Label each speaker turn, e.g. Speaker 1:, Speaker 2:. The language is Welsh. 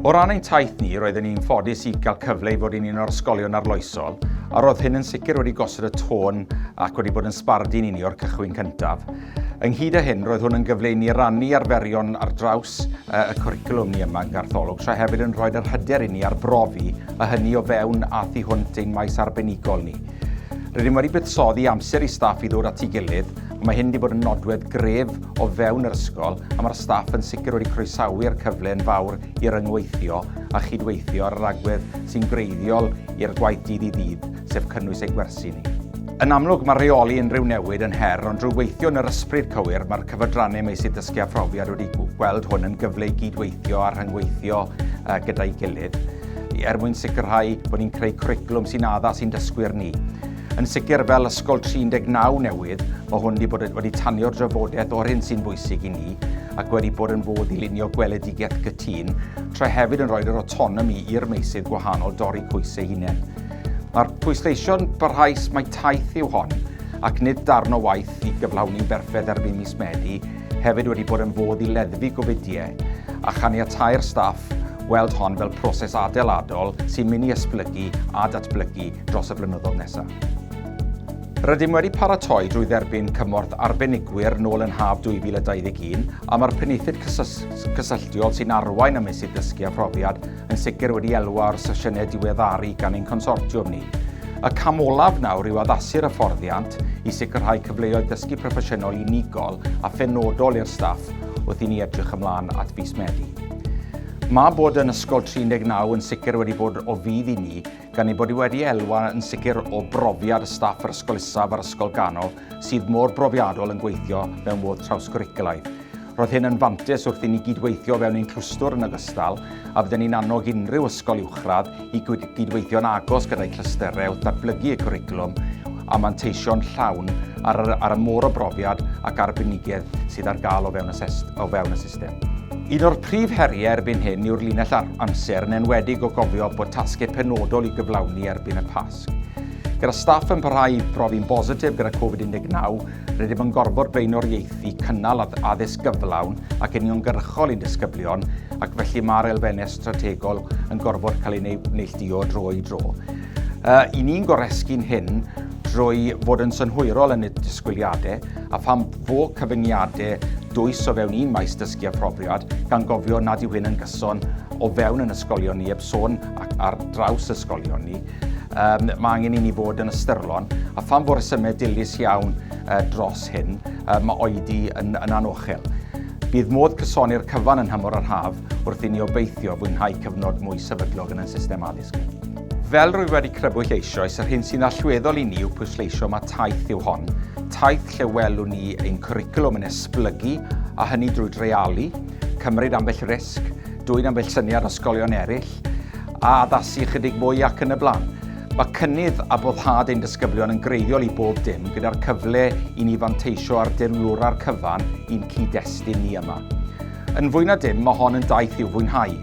Speaker 1: O ran ein taith ni, roedden ni'n ffodus i gael cyfle i fod yn un o'r ysgolion arloesol, a roedd hyn yn sicr wedi gosod y tôn ac wedi bod yn sbardun i ni o'r cychwyn cyntaf. Ynghyd â hyn, roedd hwn yn gyfle i ni rannu arferion ar draws y cwricwlwm ni yma yng Gartholwg, tra hefyd yn rhoi'r hyder i ni arbrofi a hynny o fewn a thu hwnt ein maes arbenigol ni. Rydym wedi buddsoddi amser i staff i ddod at ei gilydd, Ond mae hyn wedi bod yn nodwedd gref o fewn yr ysgol a mae'r staff yn sicr wedi croesawu'r cyfle yn fawr i ryngweithio a chydweithio ar yr agwedd sy'n greiddiol i'r gwaith dydd i ddydd, sef cynnwys ein gwersi ni. Yn amlwg, mae rheoli unrhyw newid yn her, ond drwy weithio yn yr ysbryd cywir, mae'r cyfadrannau meysydd dysgu a phrofiad wedi gweld hwn yn gyfle i gydweithio a rhyngweithio gyda'i gilydd er mwyn sicrhau bod ni'n creu cwricwlwm sy'n addas i'n dysgwyr ni. Yn sicr, fel Ysgol 39 newydd, mae hwn wedi bod wedi tanio'r drafodaeth o'r hyn sy'n bwysig i ni ac wedi bod yn fodd i lunio gweledigaeth gytun, tra hefyd yn rhoi'r yr autonomi i'r meysydd gwahanol dorri cwys eu hunain. Mae'r pwysleisio'n barhaus mai taith yw hon, ac nid darn o waith i gyflawni'n berffedd erbyn mis Medi, hefyd wedi bod yn fodd i leddfu gofidiau a chaniatáu'r staff weld hon fel proses adeiladol sy'n mynd i esblygu a datblygu dros y blynyddoedd nesaf. Rydym wedi paratoi drwy dderbyn cymorth arbenigwyr nôl yn haf 2021 a mae'r Penaethiaid Cysylltiol sy'n arwain y meysydd dysgu a phrofiad yn sicr wedi elwa o'r sesiynau diweddaru gan ein consortiwm ni. Y cam olaf nawr yw addasu'r hyfforddiant i sicrhau cyfleoedd dysgu proffesiynol unigol a phenodol i'r staff wrth i ni edrych ymlaen at fis Medi. Mae bod yn Ysgol 39 yn sicr wedi bod o fudd i ni gan ei bod hi wedi elwa yn sicr o brofiad y staff yr Ysgol Isaf a'r Ysgol Ganol sydd mor brofiadol yn gweithio mewn modd trawsgwricwlaidd. Roedd hyn yn fantes wrth i ni gydweithio fewn ein clwstwr yn ogystal a fydden ni'n annog unrhyw ysgol uwchradd i gydweithio'n agos gyda'i clystyrau wrth ddatblygu y cwricwlwm a manteisio'n llawn ar, ar y môr o brofiad ac arbenigedd sydd ar gael o fewn y system. system. Un o'r prif heriau erbyn hyn yw'r linell ar amser yn enwedig o gofio bod tasgau penodol i gyflawni erbyn y Pasg. Gyda staff yn parhau i brofi'n bositif gyda Covid-19, rydym yn gorfod blaenoriaethu cynnal addysg gyflawn ac uniongyrchol i'n disgyblion ac felly mae'r elfennau strategol yn gorfod cael ei neillduo dro i dro. Uh, I ni'n goresgu'n hyn drwy fod yn synhwyrol yn y disgwyliadau a pham fo cyfyngiadau dwys o fewn un maes dysgu a phrofiad, gan gofio nad yw hyn yn gyson o fewn yn ysgolion ni, heb sôn ac ar draws ysgolion ni. Um, mae angen i ni fod yn ystyrlon, a pham fo resymau dilys iawn uh, dros hyn, uh, mae oedi yn, yn anochel. Bydd modd cysoni'r cyfan yn hymor yr haf wrth i ni obeithio fwynhau cyfnod mwy sefydlog yn y system addysg. Fel rwy wedi crybwyll eisoes, yr hyn sy'n allweddol i ni yw pwysleisio mae taith yw hon, taith lle welwn ni ein cwricwlwm yn esblygu, a hynny drwy dreialu, cymryd ambell risg, dwyn ambell syniad o sgolion eraill, a addasu ychydig mwy ac yn y blaen. Mae cynnydd a boddhad ein disgyblion yn greiddiol i bob dim, gyda'r cyfle i ni fanteisio ar dirwlwra'r cyfan i'n cyd-destun ni yma. Yn fwy na dim, mae hon yn daith i'w fwynhau.